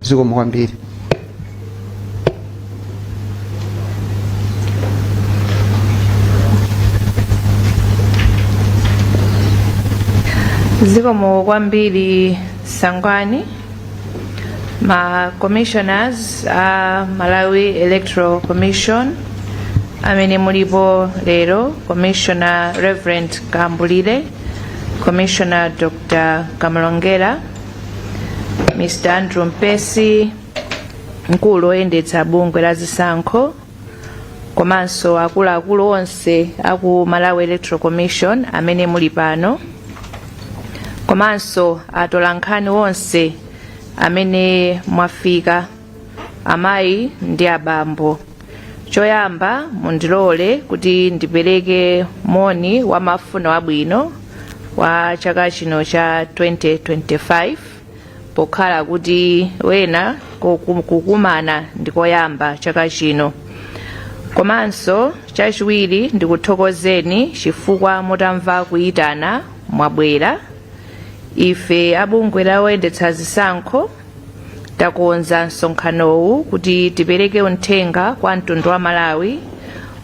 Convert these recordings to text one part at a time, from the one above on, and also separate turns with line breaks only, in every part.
zikomo kwambiri
zikomo kwambiri Sangwani ma commissioners a malawi electoral commission amene mulipo lero commissioner reverend kambulire commissioner dr kamalongera mr andrew mpesi mkulu oyendetsa bungwe la zisankho komanso akuluakulu onse aku malawi electoral commission amene muli pano komanso atolankhani onse amene mwafika amayi ndi abambo choyamba mundilole kuti ndipereke moni wa mafuno abwino wa chaka chino cha 2025 pokhala kuti wena kukumana ndikoyamba chaka chino komanso chachiwiri ndikuthokozeni chifukwa mutamva kuyitana mwabwera ife abungwe loyendetsa zisankho takonza msonkhanowu kuti tipereke uthenga kwa mtundu wa malawi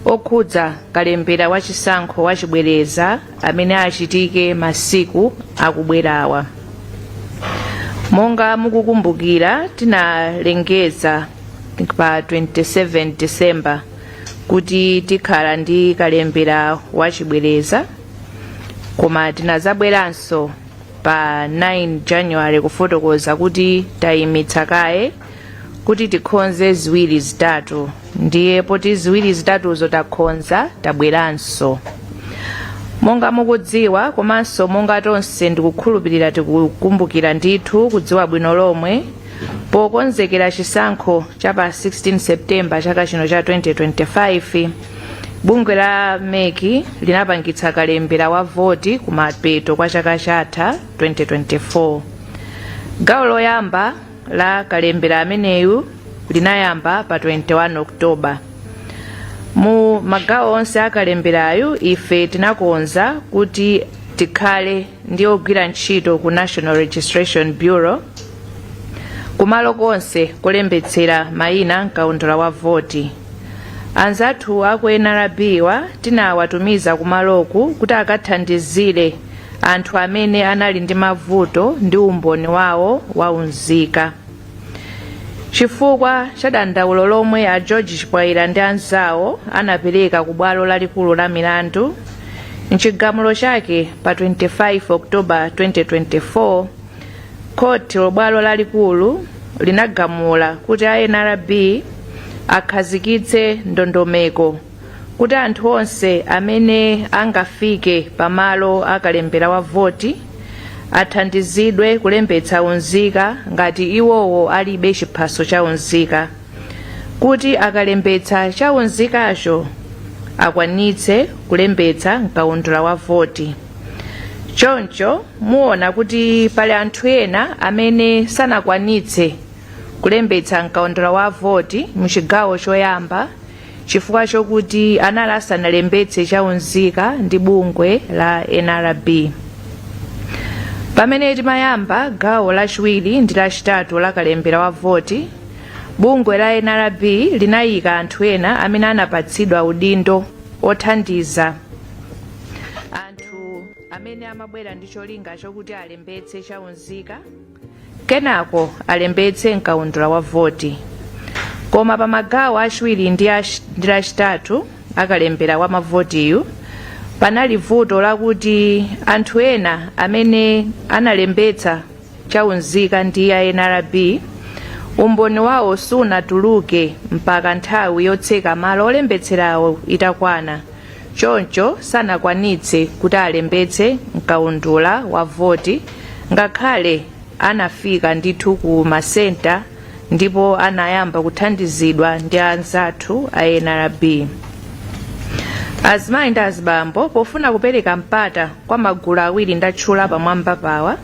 okhudza kalembera wa chisankho wa chibwereza amene achitike masiku akubwerawa monga mukukumbukira tinalengeza pa 27 december kuti tikhala ndi kalembera wachibwereza koma tinazabweranso pa 9 january kufotokoza kuti tayimitsa kaye kuti tikhonze ziwiri zitatu ndiye poti ziwiri zitatuzo takhonza tabweranso monga mukudziwa komanso monga tonse ndikukhulupirira tikukumbukira ndithu kudziwa bwino lomwe pokonzekera chisankho cha pa 16 septemba chaka chino cha 2025 bungwe la mec linapangitsa kalembera wa voti kumapeto kwa chaka chatha 2024 gawo loyamba la kalembera ameneyu linayamba pa 21 oktoba mu magawo onse a kalemberayu ife tinakonza kuti tikhale ndi ogwira ntchito ku national registration bureau kumalo konse kolembetsera mayina mkaundula wa voti anzathu aku nrbwa tinawatumiza kumaloku kuti akathandizire anthu amene anali ndi mavuto ndi umboni wawo wa unzika chifukwa cha dandaulo lomwe a george chipwaira ndi anzawo anapereka ku bwalo lalikulu la milandu mchigamulo chake pa 25 oktoba 2024 khoti la bwalo lalikulu linagamula kuti a nrb akhazikitse ndondomeko kuti anthu onse amene angafike pa malo a kalembera wa voti athandizidwe kulembetsa unzika ngati iwowo alibe chiphaso cha unzika kuti akalembetsa cha unzikacho akwanitse kulembetsa mkaundula wa voti choncho poona kuti pali anthu ena amene sanakwanitse kulembetsa mkaundula wa voti mu chigawo choyamba chifukwa chokuti anali asanalembetse cha unzika ndi bungwe la nrb pamene timayamba gawo lachiwiri ndi lachitatu la kalembera wa voti bungwe la nrb linayika anthu ena amene anapatsidwa udindo othandiza anthu amene amabwera ndi cholinga chokuti alembetse cha unzika kenako alembetse mkaundula wa voti koma pa magawo achiwiri ndi lachitatu akalembera wa mavotiyu panali vuto lakuti anthu ena amene analembetsa chaunzika ndi a nrb umboni wawo sunatuluke mpaka nthawi yotseka malo olembetserawo itakwana choncho sanakwanitse kuti alembetse mkaundula wa voti ngakhale anafika ndithu ku masenta ndipo anayamba kuthandizidwa ndi anzathu a nrb azimayi ndi azibambo pofuna kupereka mpata kwa magulu awiri ndatchula pamwambapawa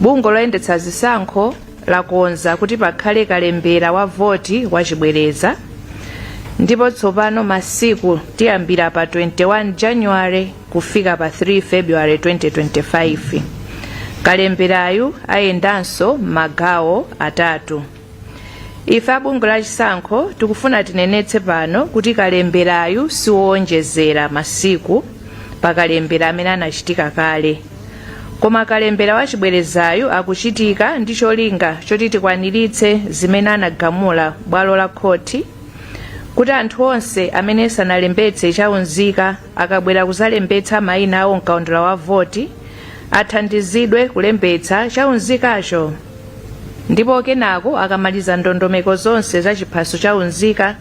bungwe loyendetsa zisankho lakonza kuti pakhale kalembera wa voti wachibwereza ndipo tsopano masiku tiyambira pa 21 january kufika pa 3 february 2025 kalemberayu ayendanso m'magawo atatu ife a bungwe la chisankho tikufuna tinenetse pano kuti kalemberayu siwowonjezera masiku pa kalembera amene anachitika kale koma kalembera wa chibwerezayu akuchitika ndi cholinga choti tikwaniritse zimene anagamula bwalo la khoti kuti anthu onse amene sanalembetse chaunzika akabwera kuzalembetsa mayina awo mkaundula wa voti athandizidwe kulembetsa chaunzikacho ndipo kenako akamaliza ndondomeko zonse za chiphaso chaunzika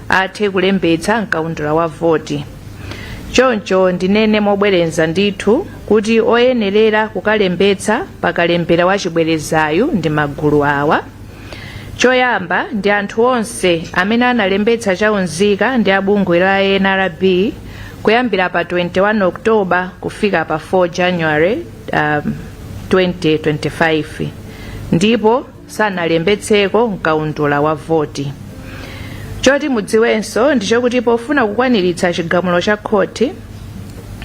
athe kulembetsa mkaundula wa voti choncho ndinene mobwereza ndithu kuti oyenerera kukalembetsa pakalembera wa chibwerezayu ndi magulu awa choyamba ndi anthu onse amene analembetsa chaunzika ndi abungwe la nrb kuyambira pa 21 oktoba kufika pa 4 january 2025 ndipo sanalembetseko mkaundula wa voti. Choti mudziwenso ndi chokuti pofuna kukwaniritsa chigamulo cha khoti,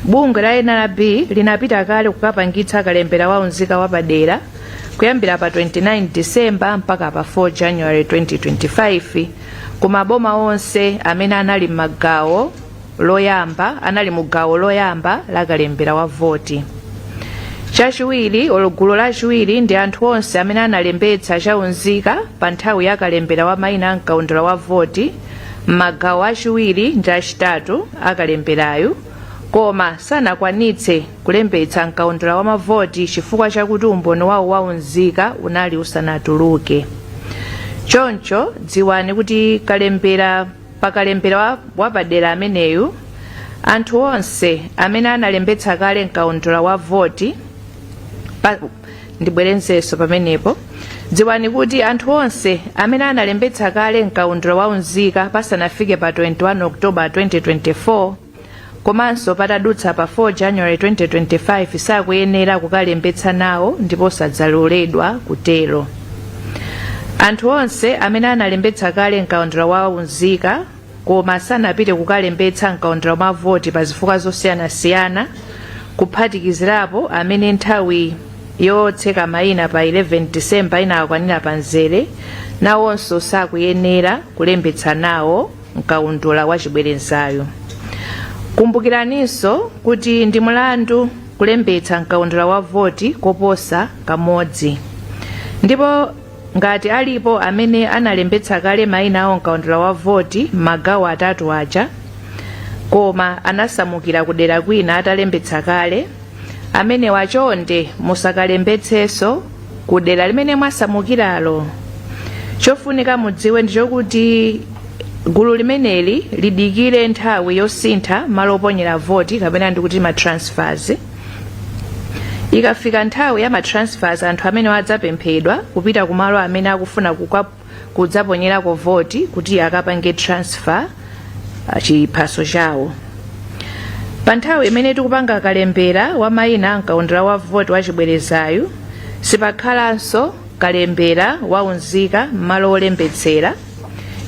bungwe la nrb linapita kale kukapangitsa kalembera wa unzika wapadera kuyambira pa 29 December mpaka pa 4 January 2025 ku maboma onse amene anali m'magawo loyamba anali mu gawo loyamba la kalembera wa voti chachiwiri olo gulu lachiwiri ndi anthu onse amene analembetsa chaunzika pa nthawi ya kalembera wa mayina a mkaundula wa voti m'magawo achiwiri ndi achitatu akalemberayu koma sanakwanitse kulembetsa mkaundula wa mavoti chifukwa chakuti umboni wawo waunzika unali usanatuluke choncho dziwani kuti kalembera Pa kalembera wapadera ameneyu, anthu onse amene analembetsa kale m'kaundula wa voti pa, ndibwerezenso pamenepo, dziwani kuti anthu onse amene analembetsa kale m'kaundula wa unzika pasanafike pa 21 October 2024, komanso patadutsa pa 4 january 2025 sakuyenera kukalembetsa nawo ndipo sadzaloledwa kutero anthu onse amene analembetsa kale mkaundula wa unzika koma sanapite kukalembetsa mkaundula wa voti pa zifukwa zosiyanasiyana kuphatikizirapo amene nthawi yotseka mayina pa 11 disemba inawakwanira pa mzere nawonso sakuyenera kulembetsa nawo mkaundula wachibwerezayu kumbukiraninso kuti ndi mlandu kulembetsa mkaundula wa voti koposa kamodzi ndipo ngati alipo amene analembetsa kale mayina awo mkaundula wa voti m'magawo atatu aja koma anasamukira kudera kwina atalembetsa kale amenewa chonde musakalembetsenso ku dera limene mwasamukiralo chofunika mudziwe ndi chokuti gulu limeneli lidikire nthawi yosintha malo oponyera voti kapena ndikuti ma transfers ikafika nthawi ya ma transfers anthu amenewa adzapemphedwa kupita kumalo amene akufuna kukwa kudzaponyerako voti kuti akapange transfer ah, chiphaso chawo pa nthawi imene tikupanga kalembera wa mayina a mkaundula wa voti wa chibwerezayu sipakhalanso kalembera wa unzika m'malo olembetsera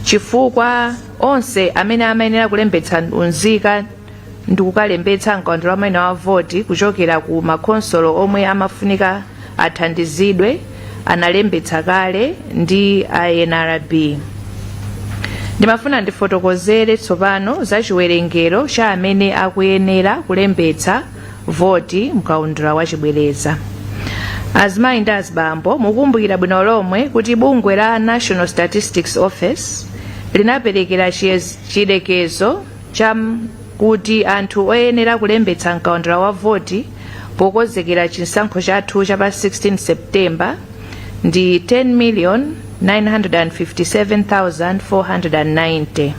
chifukwa onse amene amayenera kulembetsa unzika ndikukalembetsa mkaundula wa maina wa voti kuchokera ku makhonsolo omwe amafunika athandizidwe analembetsa kale ndi a nrb ndimafuna ndifotokozere tsopano za chiwerengero cha amene akuyenera kulembetsa voti mkaundula wa chibwereza azimayi ndi azibambo mukumbukira bwino lomwe kuti bungwe la national statistics office linaperekera chiyerekezo chakuti anthu oyenera kulembetsa mkaundula wa voti pokonzekera chisankho chathu cha pa 16 septemba ndi 10,957,490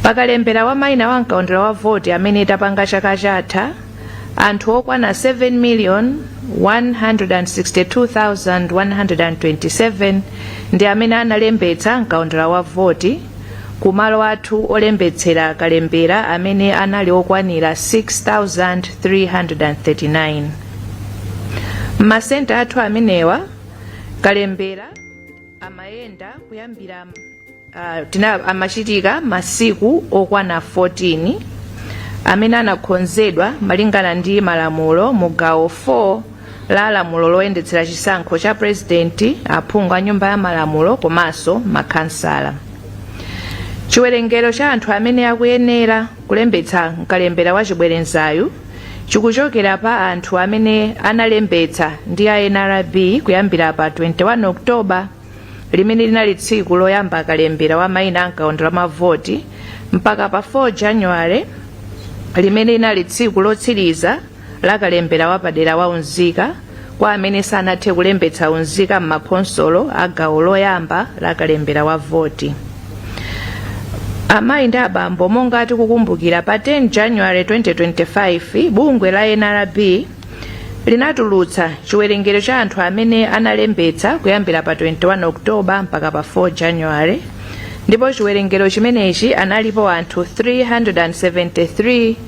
pakalembera wa maina wa mkaundula wa voti amene tapanga chaka chatha anthu okwana 7,162,127 ndi amene analembetsa mkaundula wa voti ku malo athu olembetsera kalembera amene anali okwanira 6339 m'masenta athu amenewa kalembera amayenda kuyambira uh, tina amachitika masiku okwana 14 amene anakonzedwa malingana ndi malamulo mu gawo 4 la lamulo loyendetsera chisankho cha purezidenti aphungu a nyumba ya malamulo komanso makhansala chiwerengero cha anthu amene akuyenera kulembetsa mkalembera wa chibwerezayu chikuchokera pa anthu amene analembetsa ndi a nrb kuyambira pa 21 oktoba limene linali tsiku loyamba kalembera wa mayina a mkaundula wa mavoti mpaka pa 4 januwale limene linali tsiku lotsiriza la kalembera wapadera wa unzika kwa amene sanathe kulembetsa unzika m'makhonsolo a gawo loyamba la kalembera wa voti amayi ndi abambo monga tikukumbukira pa 10 january 2025 bungwe la nrb linatulutsa chiwerengero cha anthu amene analembetsa kuyambira pa 21 oktoba mpaka pa 4 january ndipo chiwerengero chimenechi analipo anthu 373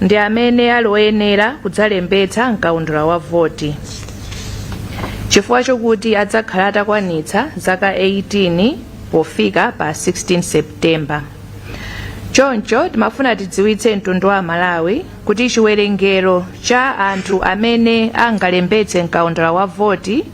ndi amene ali oyenera kudzalembetsa mkaundula wa voti chifukwa chokuti adzakhala atakwanitsa zaka 18 pofika pa 16 septemba choncho timafuna tidziwitse mtundu wa amalawi kuti chiwerengero cha anthu amene angalembetse mkaundula wa voti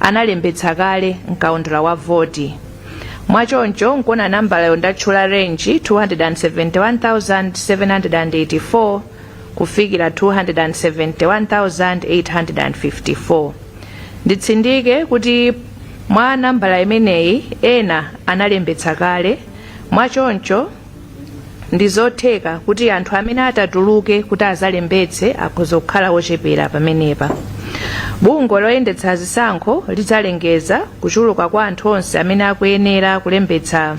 analembetsa kale mkaundula wa voti mwachoncho nkuona nambala yomwe ndatchula range 271784 kufikira 271854 nditsindike kuti mwa nambala imeneyi ena analembetsa kale mwachoncho ndizotheka kuti anthu amene atatuluke kuti azalembetse akhoza kukhala ochepera pamenepa bungwe loyendetsa zisankho lidzalengeza kuchuluka kwa anthu onse amene akuyenera kulembetsa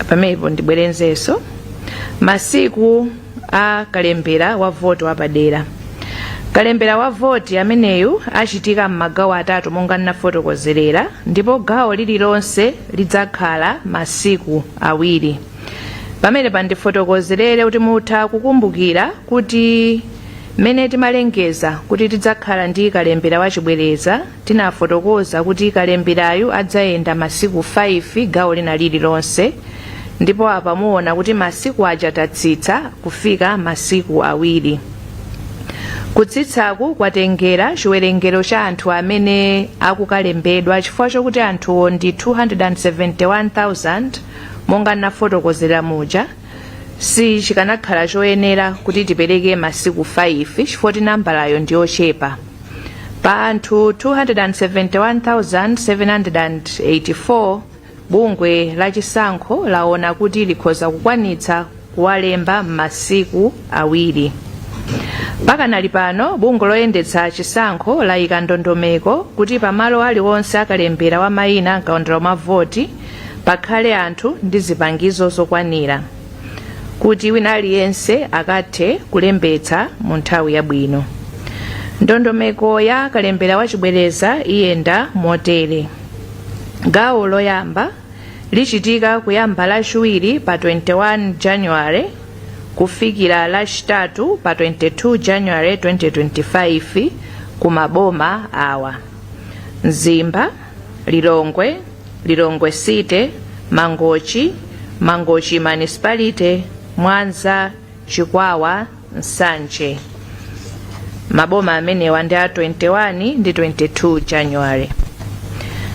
pamenepo ndibwerezenso masiku a kalembera wa voti wapadera kalembera wa voti ameneyu achitika m'magawo atatu monga ndinafotokozerera ndipo gawo lililonse lidzakhala masiku awiri pamenepa ndifotokozerere kuti mutha kukumbukira kuti mmene timalengeza kuti tidzakhala ndi kalembera wachibwereza Tinafotokoza kuti kalemberayu adzayenda masiku 5 gawo lina lililonse ndipo apa muona kuti masiku aja tatsitsa kufika masiku awiri. Kutsitsaku kwatengera chiwerengero cha anthu amene akukalembedwa chifukwa chokuti anthuwo ndi 271,000 monga ndinafotokozera muja. si chikanakhala choyenera kuti tipereke masiku 5 chifukwa kuti nambalayo ndi yochepa pa anthu 271,784 bungwe la chisankho laona kuti likhoza kukwanitsa kuwalemba m'masiku awiri pakanali pano bungwe loyendetsa chisankho layika ndondomeko kuti pamalo aliwonse akalembera wa mayina mkaundula wa mavoti pakhale anthu ndi zipangizo zokwanira kuti wina aliyense akathe kulembetsa mu nthawi yabwino ndondomeko ya kalembera wachibwereza iyenda motere gawo loyamba lichitika kuyamba lachiwiri pa 21 january kufikira lachitatu pa 22 january 2025 ku maboma awa mzimba lilongwe lilongwe city mangochi mangochi municipality mwanza chikwawa nsanje maboma amenewa ndi a 21 ndi 22 january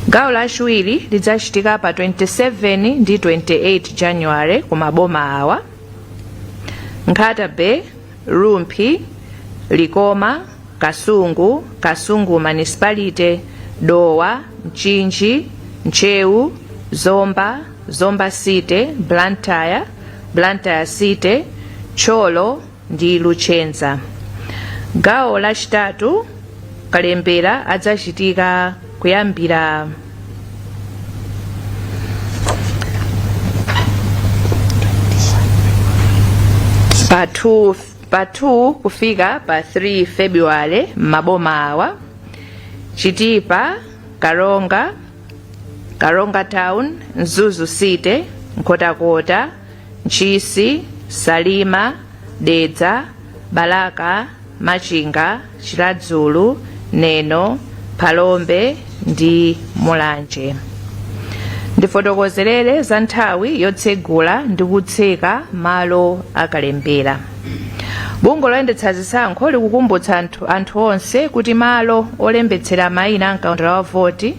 gawo lachiwiri lidzachitika pa 27 ndi 28 january ku maboma awa nkhata bay Rumphi, Likoma, Kasungu, Kasungu Manisipalite, Dowa, Mchinji, Ntcheu, Zomba, Zomba City, Blantyre, Blantyre City, Thyolo ndi Luchenza. Gawo lachitatu kalembera adzachitika kuyambira pa 2 kufika pa 3 february m'maboma awa chitipa karonga town mzuzu city nkhotakota ntchisi salima dedza balaka Machinga, Chiradzulu, Neno, Phalombe ndi Mulanje. Ndifotokozerere za nthawi yotsegula ndi kutseka malo akalembera. Bungwe loyendetsa zisankho likukumbutsa anthu onse kuti malo olembetsera mayina a mkaundula wa voti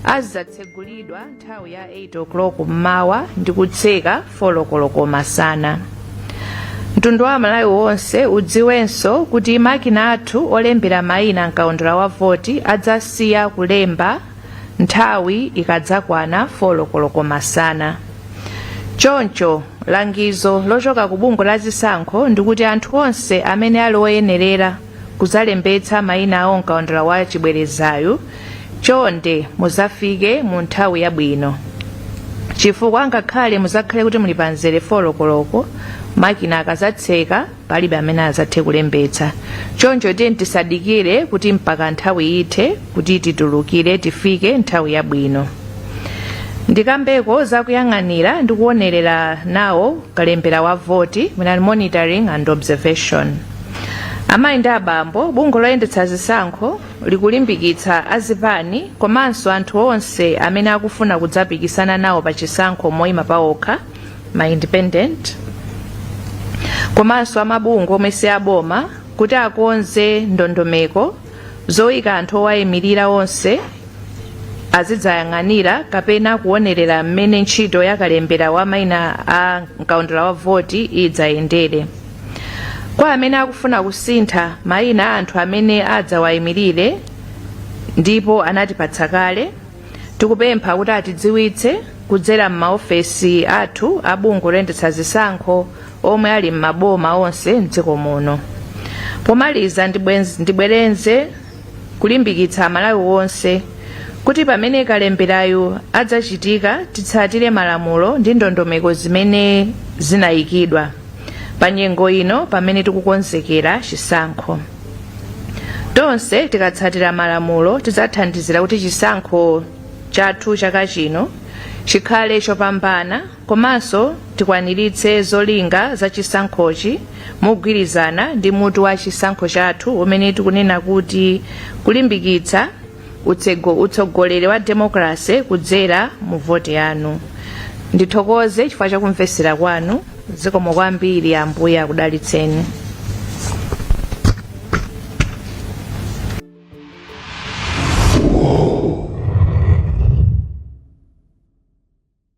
azidzatsegulidwa nthawi ya 8 o'clock mmawa ndi kutseka 4 koloko masana mtundu wa amalawi wonse udziwenso kuti makina athu olembera mayina mkaundula wa voti adzasiya kulemba nthawi ikadzakwana 4 koloko masana choncho langizo lochoka ku bungwe la zisankho ndikuti anthu onse amene ali oyenerera kuzalembetsa maina awo mkaundula wa chibwerezayu chonde muzafike mu nthawi yabwino chifukwa ngakhale muzakhale kuti muli pa mzere 4 koloko makina akazatseka palibe amene azathe kulembetsa choncho tiyeni tisadikire kuti mpaka nthawi ithe kuti titulukire tifike nthawi yabwino ndikambeko zakuyang'anira ndi kuonerera nawo kalembera wa voti mwina monitoring and observation amayi ndi abambo bungwe loyendetsa zisankho likulimbikitsa azipani komanso anthu onse amene akufuna kudzapikisana nawo pa chisankho moyima pawokha ma independent komanso amabungwe omwe si aboma kuti akonze ndondomeko zoyika anthu owayimirira onse azidzayang'anira kapena kuonerera mmene ntchito yakalembera wa maina a mkaundula wa voti idzayendere kwa amene akufuna kusintha mayina a anthu amene adzawayimirire ndipo anatipatsa kale tikupempha kuti atidziwitse kudzera m'maofesi athu a bungwe loyendetsa zisankho omwe ali m'maboma onse mdziko muno pomaliza ndibwereze kulimbikitsa Amalawi onse kuti pamene kalemberayu adzachitika titsatire malamulo ndi ndondomeko zimene zinayikidwa pa nyengo ino pamene tikukonzekera chisankho. Tonse tikatsatira malamulo tidzathandizira kuti chisankho chathu chaka chino chikhale chopambana. Komanso tikwaniritse zolinga za chisankhochi mogwirizana ndi mutu wa chisankho chathu umene tikunena kuti Kulimbikitsa utsego utsogoleri wa demokalasi kudzera mu voti yanu. Ndithokoze chifukwa cha kumvetsera kwanu. Zikomo kwambiri. Ambuye akudalitseni.